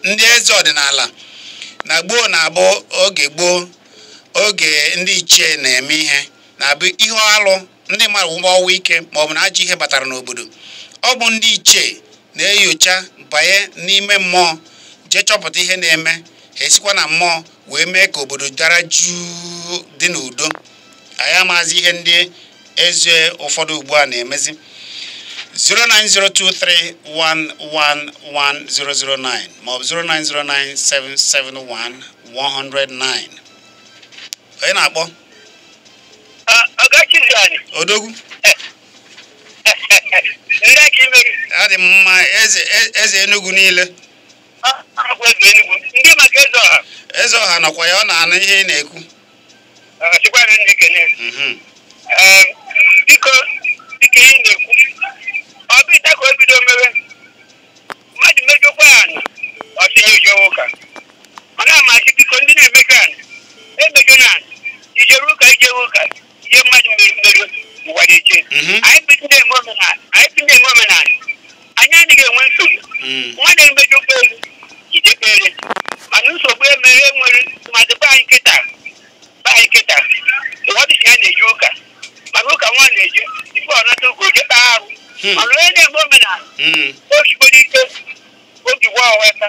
ndị eze ọdịnala na gboo na-abụ oge gboo oge ndị ichie na-eme ihe na-abụ ihe alụ ndị mmadụ nwụba ọnwụ ike ma ọ bụ na ajọ ihe batara n'obodo ọ bụ ndị ichie na-enyocha banye n'ime mmụọ jee chọpụta ihe na-eme ha esikwa na mmụọ wee mee ka obodo dara jụụ dị n'udo anyị amazi ihe ndị eze ụfọdụ ugbu a na-emezi 09023111009 maọbụ 09097711009 onye na-akpọ odogwu adị m mma eze Enugu niile eze ọha nọkwa ya ọ na-anụ ihe ị na-ekwu Chikwanụ ndị kene. Mhm. Ee, biko dịka ihe ị na-ekwu ọ bụ kịta ka o bido mewe mmadụ mejọkwa anị ọ sị ya jewe ụka ana m asị biko ndị na-emejọ anị emejọna anị ijere ụka ijewe ụka ihe mmadụ mere mmerụ ụwa na-eche Mhm. anyị bụ ndị na-eme omenala anyị bụ ndị na-eme omenala anyị anaghị enwe nsogbu Mm. mmadụ emejọkwa elu ijekpere mana nsogbu emere enwere tụmadị be anyị kịta be anyị kịta mmadụ sị ya na-eje ụka mana ụka nwa na-eje ife ọ nata ụka o je kpaa arụ Hmm. mana onye na-eme omenala Mm. o sigboro ike obi gwa ọwa aka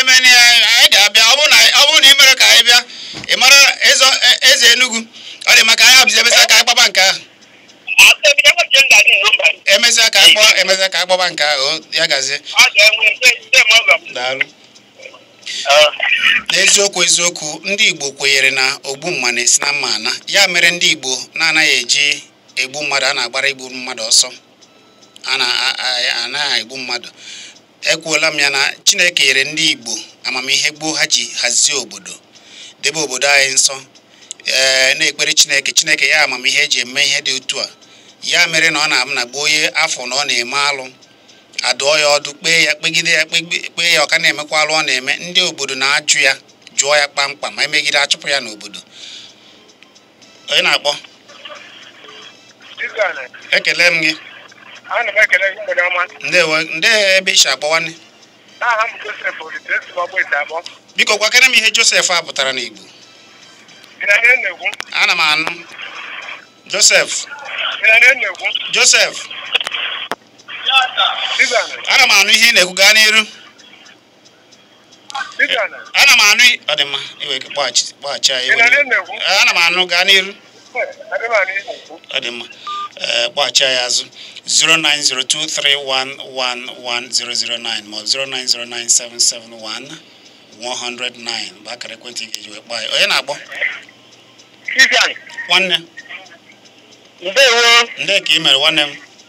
emeni ya anyị ga-abịa ọ bụrụ na ị mere ka anyị bịa ị mara e, eze Enugu ọ dị m ka anyị abụzi emesịa ka anyị kpaba nke ahụ emesịa ka akpọ emesịa ka a kpaba nke ahụ ya gazie daalụ n'eziokwu eziokwu ndị Igbo kwenyere na ogbu mma na-esi na mma ana ya mere ndị Igbo na-anaghị eji egbu mmadụ a na-agbara igbu mmadụ ọsọ anaghị egbu mmadụ ekwuola m ya na Chineke nyere ndị Igbo amamihe gboo ha ji hazie obodo debe obodo anyị nsọ ee na-ekpere Chineke Chineke nye amamihe eji eme ihe dị otu a ya mere na ọ na-abụ na gboo onye a fụ na ọ na-eme alụ a dụọ ya ọdụ kpee ya kpegide ya kpee ya ọ ka na-emekwa alụ ọ na-eme ndị obodo na-ajụ ya jụọ ya kpamkpam ma emegide a chụpụ ya n'obodo onye na-akpọ ekele m gị ndewo ndị ebe i si akpọ nwanne biko gwakere m ihe Joseph a pụtara n'Igbo ana m anụ Joseph Joseph ana m anụ ihe ị na-ekwu gaa n'iru ana m anụ ọ dị mma i wee kpọghachi kpọghachi anyị ana m anụ gaa n'iru ọ dị mma kpọghachi anyị azụ 09023111009 ma ọ bụ 09097711009 bụ akara ekwentị ị ga-eji wee kpọọ anyị onye na-akpọ nwanne ndewo nde ka ị mere nwanne m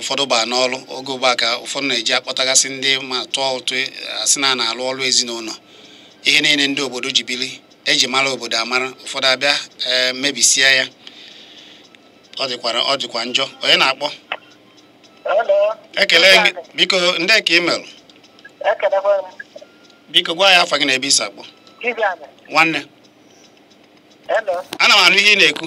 ụfọdụ baa n'ọrụ oge ugbu a ka ụfọdụ na-eji akpọtagasị ndị ma tụọ ụtụ asị na na-alụ ọrụ ezinụlọ ihe niile ndị obodo ji bili e ji mara obodo amara ụfọdụ abịa eh, mebisie ya ọ dịkwara ọ dịkwa njọ onye na-akpọ ekele biko nde ka ị mere biko gwa anyị afa gị na ebe i si akpọ nwanne ana m anụ ihe ị na-ekwu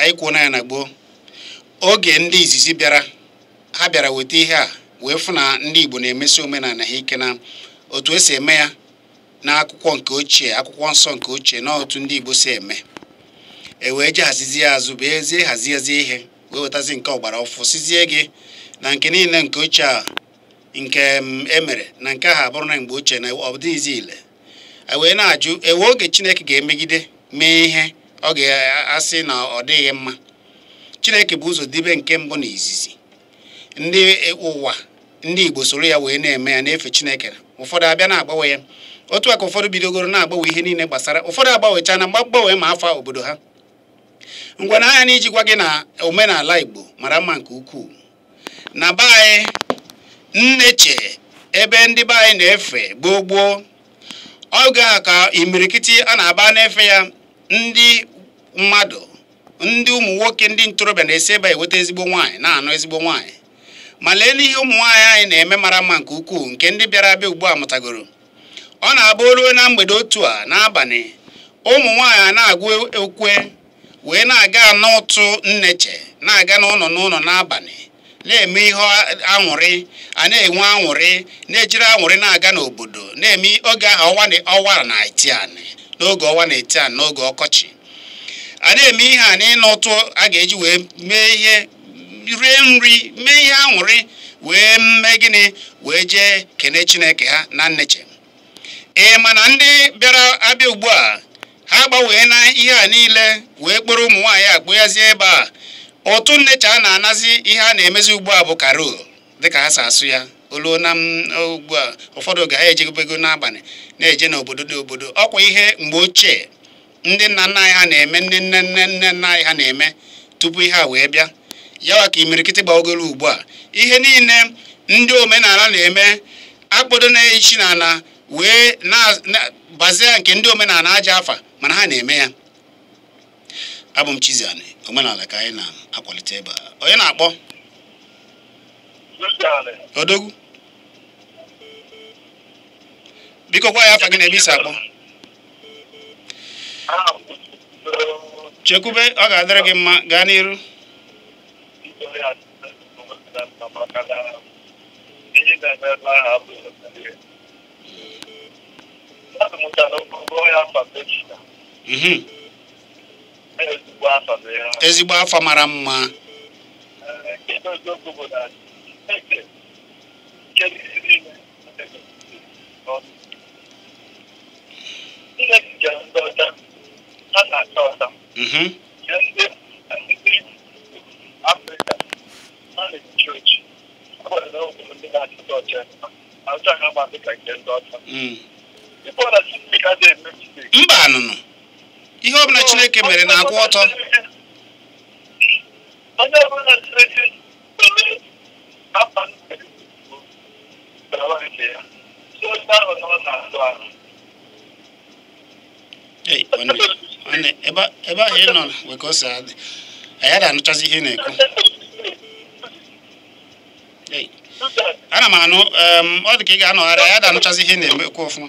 anyị kwuo na ya na gboo oge ndị izizi bịara ha bịara weta ihe a wee fụ na ndị Igbo na-emesi omenala ha ike na otu e si eme ya n'akwụkwọ nke ochie akwụkwọ nsọ nke ochie na otu ndị Igbo si eme e wee ji hazizi ya azụ bụ ezie haziezi ihe wee wetazi nke ọgbara ọfụ sịzie gị na nke niile nke ochie a nke mm, e mere na nke ahụ abụrụ na mgbe ochie na ọ dịghịzi ile e wee na-ajụ e nwe oge chineke ga-emegide mee ihe ọ ga-asị na ọ dịghị mma chineke bu ụzọ debe nke mbụ na izizi ndị e, ụwa ndị igbo soro ya wee na-eme ya na-efe chineke ụfọdụ abịa na-agbanwe ya otu a ka ụfọdụ bidogoro na-agbanwe ihe niile gbasara ụfọdụ agbanwecha na mgbanwe ma afa obodo ha ngwa na anya na iji gwa gị na omenala igbo mara mma nke ukwuu na be anyị nneche ebe ndị be anyị na-efe gboo gboo oge a ka imirikiti a na-aba na-efe ya ndị mmadụ ndị ụmụ nwoke ndị ntorobịa na-esi ebe a eweta ezigbo nwaanyị na-anụ ezigbo nwaanyị ma lee n'ihe ụmụ nwaanyị anyị na-eme mara mma nke ukwuu nke ndị bịara abịa ugbu a mụtagoro ọ na-abụ o ruo na mgbede otu a n'abalị ụmụ nwaanyị a na-agụ ukwe wee na-aga n'ụtụ nneche na-aga n'ụlọ n'ụlọ n'abalị na-eme ihe aṅụrị a na-enwe aṅụrị na-ejiri aṅụrị na-aga n'obodo na-eme oge ahụ ọnwa na-eti anị n'oge ọnwa na-eti anị n'oge ọkọchị a na-eme ihe a n'ịna ụtụ a ga-eji wee mee ihe rie nri mee ihe aṅụrị wee mee gịnị wee jee kene Chineke ha na nneche ee mana ndị bịara abịa ugbu a ha gbanwee na ihe a niile wee kpọrọ ụmụ nwaanyị a kpụghazie ebe a ụtụ nneche a na-anazi ihe a na-emezi ugbu a bụ carol dịka ha si asụ ya o luo na ugbu a ụfọdụ oge ha ejebego n'abalị na-eje n'obodo n'obodo ọkwa ihe mgbe ochie ndị nna nna anyị ha na-eme ndị nne nne nne nna anyị ha na-eme tupu ihe a wee bịa yawa ka imirikiti bagoro ugbu a ihe niile ndị omenala na-eme akpodo ya isi na ala wee na-bazie nke ndị omenala ajọ afa mana ha na-eme ya abụ m Chizzy omenala ka anyị na-akwalite ebe a onye na-akpọ odogwu biko gwa anyị afa gị na ebe i si akpọ chekwube ọ ga-adịrị gị mma gaa n'iru mhm. ezigbo afa mara mma Mm-hmm. mba nụnụ ihe ọbụla chineke mere na-akwụ ọtọ ebe ahụ ị nọ nwee ka o si adị anyị ada anụchazi ihe ị na-ekwu ana m anụ ọ dị ka ị ga-anọgharị anyị ada anụchazi ihe ị na-ekwu ọfụma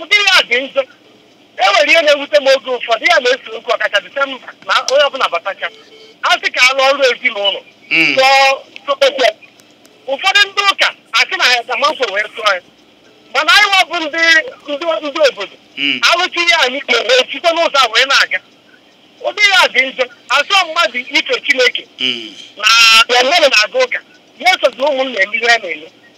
ụdị ya dị njọ e nwere ihe na-ewute m oge ụfọdụ ya na-ese okwu ọkacha disemba na onye ọbụla batacha a sị ka alụ ọrụ ezinụlọ hmm. ụfọdụ ndị ụka asị na ya tamanso wee tụọ ya mana anyị wa bụ ndị ndị obodo hmm. alụchi ihe anyị kpere site n'ụzọ a wee na-aga ụdị ya dị njọ asọ mmadụ ife chineke na mmadụ na-aga ụka ya esozi ụmụnna eme ihe na-eme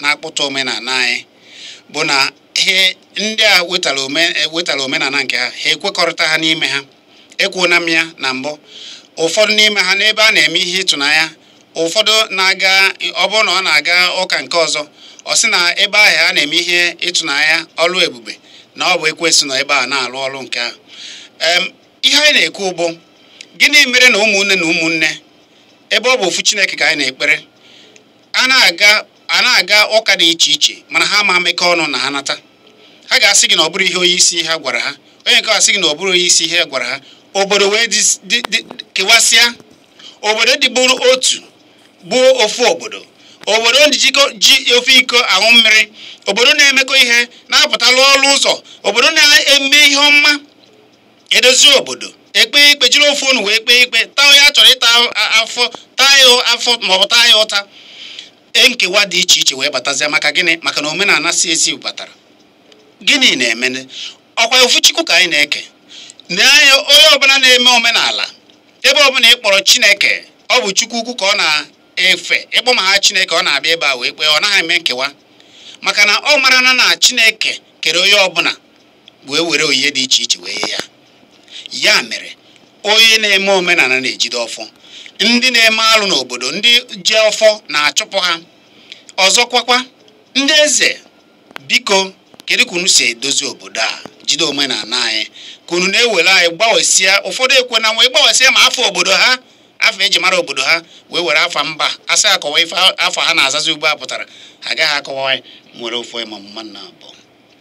na-akpụta omenala anyị bụ na ihe ndị a wetara omenala nke ha ha ekwekọrịta ha n'ime ha ekwuona m ya na mbụ ụfọdụ n'ime ha n'ebe a na-eme ihe ịtụnanya ụfọdụ na-aga ọ bụrụ na ọ na-aga ụka nke ọzọ ọ sị na ebe ahụ a na-eme ihe ịtụnanya ọlụ ebube na ọ bụ ekwensu nọ ebe a na-alụ ọrụ nke ahụ ihe anyị na-ekwu bụ gịnị mere na ụmụnne na ụmụnne ebe ọ bụ ofu Chineke ka anyị na-ekpere a na-aga ụka dị iche iche mana ha ama emekọ ọnụ na ha nata ha ga-asị gị na ọ bụrọ ihe onye isi ha gwara ha onye nke a sị gị na ọ bụrọ onye isi ha gwara ha obodo wee kewasịa obodo dịburu otu bụ ofu obodo obodo ji ofu iko aṅụ mmiri obodo na-emekọ ihe na-apụta arụ ọrụ ụzọ obodo na-eme ihe ọma edozie obodo e kpee ikpe jiri ofu onu wee kpee ikpe taa onye a chọrọ ịta afọ taa ya afọ maọbụ taa ya ụta e nkewa dị iche iche wee batazia maka gịnị maka na omenala si ezi batara gịnị na-emenụ ọkwa ofu chukwu ka anyị na-eke na anya onye ọbụla na-eme omenala ebe ọbụla ị kpọrọ chineke ọ bụ chukwu ukwu ka ọ na-efe ị kpọọ ma aha chineke ọ na-abịa ebe a wee kpee ọ naghị eme nkewa maka na ọ mara na na chineke kere onye ọbụla wee were onyinye dị iche iche nye ya ya mere onye na-eme omenala na-ejide ọfọ ndị na-eme alụ n'obodo ndị ji ọfọ na-achụpụ ha ọzọkwakwa ndị eze biko kedu ka unu si edozi obodo a jide omenala anyị ka unu na-ewere anyị gbanwesịa ụfọdụ ekwe na wee gbanwesịa ma afa obodo ha afa e ji mara obodo ha wee were afa mba a sị ha kọwaa ife afa ha na-azazi ugbu a pụtara ha agaghị akọwa nwere ofu ịma mma na abụọ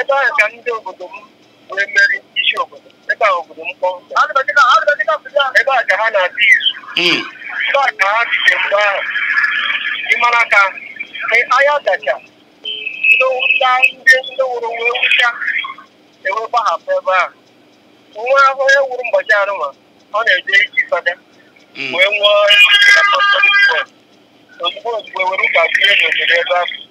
ebe ahụ ka ndị obodo m wee mere isi obodo ebe a obodo m kpọọ ebe a ka ha na-adị izu Mm. ebe a ka ha site mgbe ahụ ị mara ka aya dacha ndị nwụcha ndị ndị nwụrụ wee nwụcha e wee gbahapụ ebe ahụ nwa onye nwụrụ mgbọchi arụma ọ na-eje iji fada Mm. wee nwụọ ozugbo ozugbo were ụka bie n'obodo ebe ahụ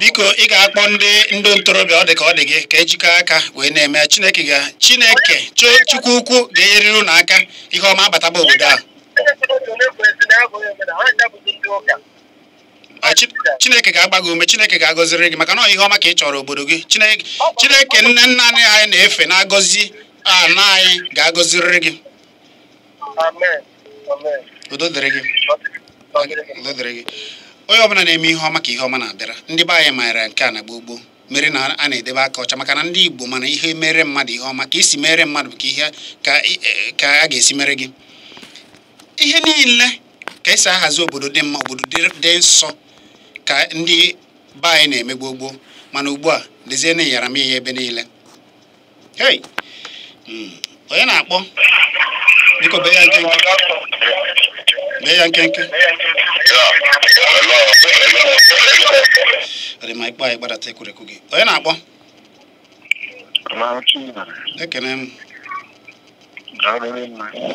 biko ị ga-akpọ ndị ndị ntorobịa ọ dị ka ọ dị gị ka e jikọọ aka wee na-eme chineke ga chineke chukwu ukwu ga-enyeriri unu aka ihe ọma abataba obodo ahụ chineke ga-agba gị ume chineke ga-agọziri gị maka na ihe ọma ka ị chọrọ obodo gị chineke nne nna anyị na-efe na-agọzi ana anyị ga-agọziriri gị udo dịrị gị udo dịrị gị onye ọbụla na-eme ihe ọma ka ihe ọma na-abịara ndị be anyị maara nke a na gboo gboo mere na a na-edebe aka ọcha maka na ndị Igbo ma na ihe i mere mmadụ ihe ọma ka i si mere mmadụ ka ihe ka e, a ga-esi mere gị ihe niile ka e si ahazi obodo dị mma obodo dị nsọ ka ndị be anyị na-eme gboo gboo mana ugbu a nezienụ yara m ihe ebe niile Hey! Mm, Onye na-akpọ? Biko bee ya nkenke. Bee ya nkenke. Ọ dị mma. Ị kpọọ anyị gbadata ekwurekwu gị. Onye na-akpọ? Ekene m.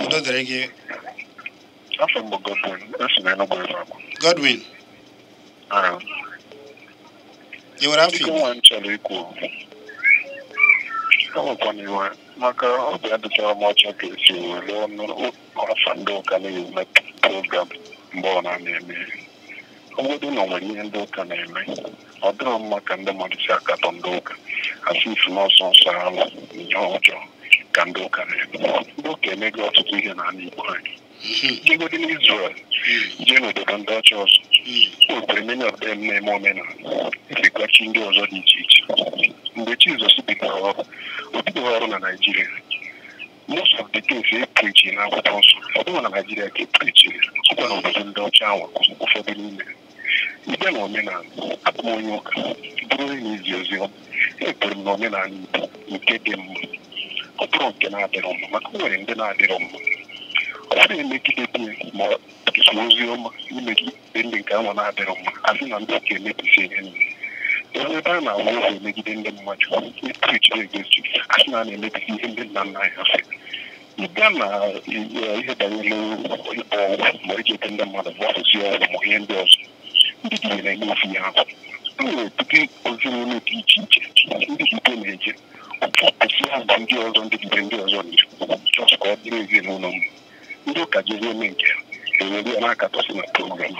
Udo dịrị gị. Afa m bụ Godwin, esi m Enugu ebe abụ. Godwin, Ee, ị nwere afa nke Igbo? nwa m chọrọ ikwu. Enwekwana iwe maka obi adịcharọ m ọcha ka esi were ọnụ afa ndị ụka na-eme program mgbe ọ na-eme. Ọ bụgodi na o nwere ihe ndị ụka na-eme. ọ dịrọ mma ka ndị mmadụ si akatọ ndị ụka asịsị na ọ sọsọ alụ na ihe ọjọọ ka ndị ụka na-eme ndị ụka emego ọtụtụ ihe n'ala Igbo anyị jegodi n'Izrel jee n'obodo ndị ọcha ọzọ o nwere many of them na-eme omenala efekwa chi ndị ọzọ dị iche iche mgbe Jizọs bidoro ọrụ o bidorọ ọrụ na Naịjirịa most of the things e preaching na akwụkwọ nsọ ọ bụrọ na Naịjirịa ka e preaching ọ kwa n'obodo ndị ọcha ahụ ụfọdụ n'ime bịa na omenala abụ m onye ụka bụrụ onye na-ezi ozi ọma ekwere m na omenala Igbo nke dị mma ọ bụrọ nke na-adịrọ mma maka o nwere ndị na-adịrọ mma ọ na-emegide di ya ma ọ bụ ozi ọma imegide ndị nke anwa na-adịrọ mma asị na ndị ụka emebisi ihe nile ebe ebe a na-awụ ụzọ emegide ndị mmadụ epreachi ejezi asị na a na-emebisi ihe ndị nna nna anyị ha sị ị bịa na ihe banyere ịkpọ ọgwụ ma eji ete ndị mmadụ ma ọsụsụ ọgwụ ma ihe ndị ọzọ ndị dibịa na-eme ofu ihe ahụ e nwere ọtụtụ ezinụlọ dị iche iche ndị dibịa na-eje ọtụtụ ha mgbe ndị ọzọ ndị dibịa ndị ọzọ na-eji chọọchị ka ọ dịrị ezinụlọ mma ndị ụka jezi eme nke ha ewere ya na-akatọsị na program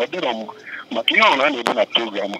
ọ dịrọ mma maka ihe ọrụ a na-eme na program a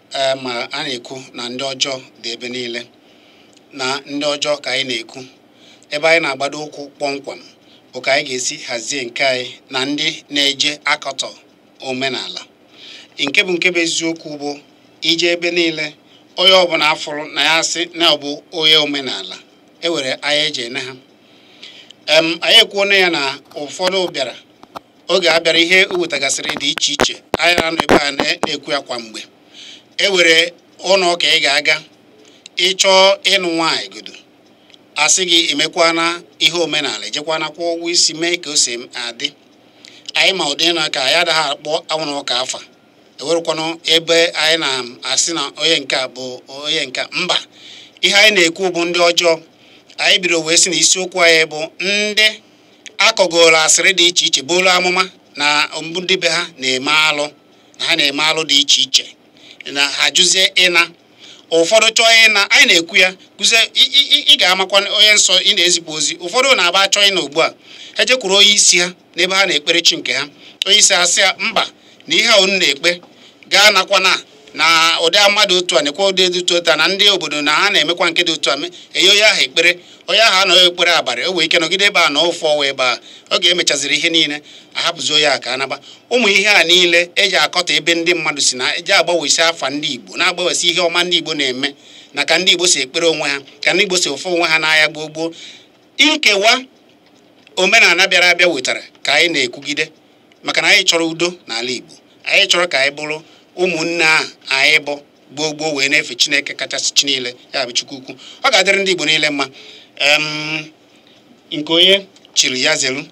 ee ma a na-ekwu na ndị ọjọọ dị ebe niile na ndị ọjọọ ka anyị na-ekwu ebe anyị na-agbado ụkwụ kpọmkwem bụ ka anyị ga-esi hazie nke anyị na ndị na-eje akọtọ omenala nke bụ nke bụ eziokwu bụ ije ebe niile onye ọbụla afụrụ na ya sị na ọ bụ onye omenala ewere anya eji ene ha anyị ekwuona ya na ụfọdụ bịara oge a bịara ihe wetagasịrị dị iche iche anyị na-anọ ebe a na-ekwu ya kwa mgbe e nwere ụlọ ụka ị ga-aga ị chọọ ịnụ nwaanyị godo asị gị emekwana ihe omenala ejekwana kwụọ ụgwọ isi mee ka o si adị anyị ma ụdị na ka anyị adaghị akpọ ụlọ ụka afa enwerọkwanụ ebe anyị na-asị na onye nke a bụ onye nke mba ihe anyị na-ekwu bụ ndị ọjọọ anyị bidoro wee sị na isiokwu anyị bụ ndị akọgoro asịrị dị iche iche buru amụma na ọ bụ ndị be ha na-eme alụ na ha na-eme alụ dị iche iche na ha jụzie ịna ụfọdụ chọọ ịna anyị na-ekwu ya kụzie ị ga-amakwa onye nsọ ị na-ezipụ ozi ụfọdụ na-aba achọ ịna ugbu a ha jekwuru onye isi ha n'ebe ha na-ekpere chi nke ha onye isi ha sị ya mba na ihe a unu na-ekpe gaa nakwa na na ụdị mmadụ otu a na-ekwe ụdị dị otu a na ndị obodo na ha na-emekwa nke dị otu a enye onye ahụ ekpere onye ahụ anọghị ekpere abalị o nwee ike nọgide ebe a na ụfọ wee ebe a oge emechaziri ihe niile ahapụzi onye a ka ọ naba ụmụ ihe a niile eji akọta ebe ndị mmadụ si na eji agbanwesị afa ndị Igbo na-agbanwesị ihe ọma ndị Igbo na-eme na ka ndị Igbo si ekpere onwe ha ka ndị Igbo si efe onwe ha n'ahịa gboo gboo nkewa omenala bịara abịa wetara ka anyị na-ekwugide maka na anyị chọrọ udo n'ala Igbo anyị chọrọ ka anyị bụrụ ụmụnne ahụ anyị bụ gboo gboo wee na-efe Chineke kachasị chi niile ya bụ Chukwu ukwu ọ ga-adịrị ndị Igbo niile mma nke onye chiri ya zelu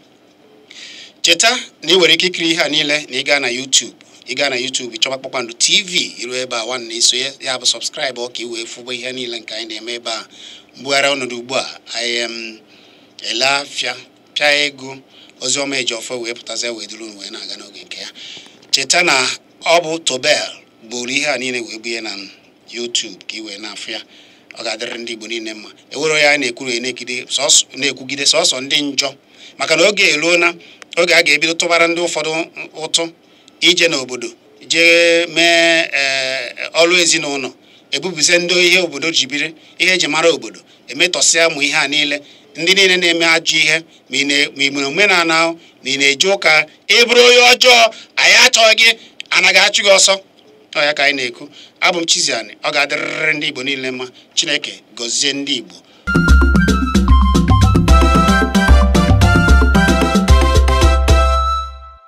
cheta na ị nwere ike ikiri ihe a niile na ị gaa na YouTube ị gaa na YouTube chọba Kpakpando TV i ru ebe a nwanne i suo ya bụ subscribe ka i wee fụba ihe niile nke anyị na-eme ebe a mbugharị ọnọdụ ugbu a anyị ele afịa pịa ego Oziọma Ejiọfọ wee pụtazie wee duru unu wee na-aga n'oge nke ya cheta na ọ bụ Tobel buru ihe a niile wee bunye na YouTube ka ị wee na-afụ ya ọ ga-adịrị ndị Igbo niile mma ewere ya na-ekwuru na-ekwugide sọsọ ndị njọ maka na oge eruona oge a ga-ebido tụbara ndị ụfọdụ ụtụ ije n'obodo jee mee eh, ọrụ ezinụlọ ebupụsịa ndị ihe obodo ji biri ihe eji mara obodo emetọsịa ụmụ ihe a niile ndị niile na-eme ajọ ihe ma ị mere omenala ma ị na-eje ụka ị bụrụ onye ọjọọ anyị achọghị gị anyị ga-achụ gị ọsọ ọ ya ka anyị na-ekwu abụ m Chiziani ọ ga-adịrịrị ndị Igbo niile mma Chineke gọzie ndị Igbo